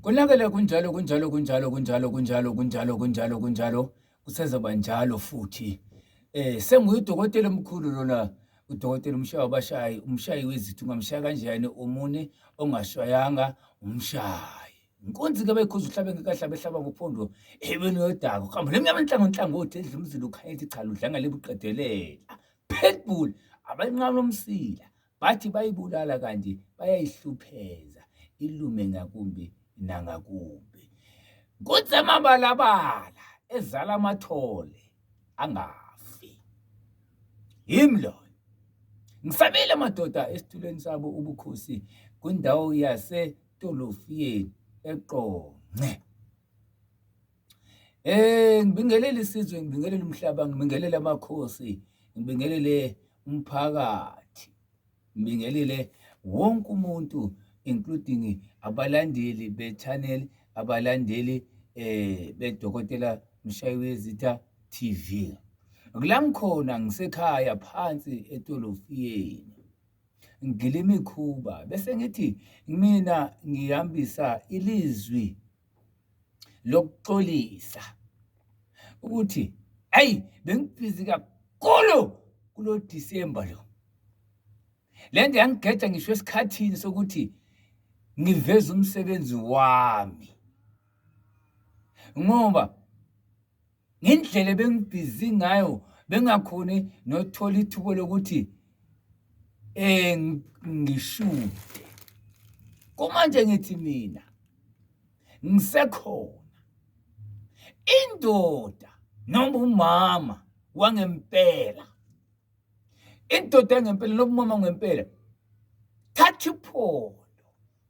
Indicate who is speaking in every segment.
Speaker 1: Konakele kunjalo kunjalo kunjalo kunjalo kunjalo kunjalo kunjalo kunjalo kusezoba njalo futhi eh senguyidokotela omkhulu lona udokotela umshaya wabashayi umshayi wezithu ungamshaya kanjani umune ongashayanga umshayi inkunzi ke bayikhuza uhlabe ngekahlabe ehlaba ngophondo ebeni yodako kuhamba lemnyama enhlango nhlangothi edla umzila ukhanyeti cha ludlanga lebuqedelela pitbull abanqalo umsila Bathi bayibulala kanti bayayihlupheza ilume ngakumbi nangakumbi. Kutsemabalabala ezala amathole angafi. Yimi loyo. Ngisabile madoda esitulweni sabo ubukhosi kwindawo yaseTolofiyeni eQonce. Eh ngibingelele isizwe, ngibingelele umhlaba, ngibingelele amakhosi, ngibingelele umphakathi, ngibingelele wonke umuntu including abalandeli be-channel, abalandeli eh beDokotela Mshayizitha TV. Kula ngikhona ngisekhaya phansi etolofiyeni ngigila imikhuba bese ngithi mina ngihambisa ilizwi lokuxolisa ukuthi ayi bengibhizi kakhulu kulo December lo le nto yangigeja ngisho esikhathini sokuthi ngiveze umsebenzi wami ngoba ngendlela ebengibhizi ngayo bengakhoni nothola ithubo lokuthi eh ngishude kumanje ngithi mina ngisekhona indoda noma umama wangempela indoda yangempela noma umama ngempela thatha iphondo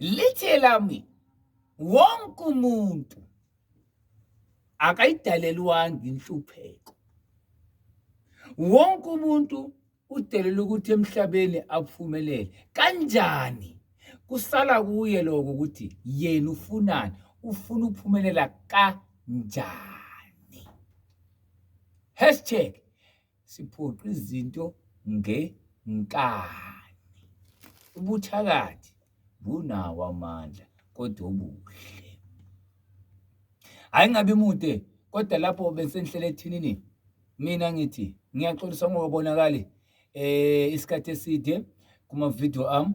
Speaker 1: lithe lami wonke umuntu akayidalelwanga inhlupheko wonke umuntu udelela ukuthi emhlabeni aphumelele kanjani kusala kuye lokho ukuthi yena ufunani ufuna ukuphumelela kanjani hashtag siphoqa izinto ngenkani. Ubuthakathi bunawo amandla kodwa obuhle. Hhayi ngabe mude kodwa lapho besenihlele ethinini mina ngithi ngiyaxolisa ngokubonakali eh isikhathi eside kuma-video ami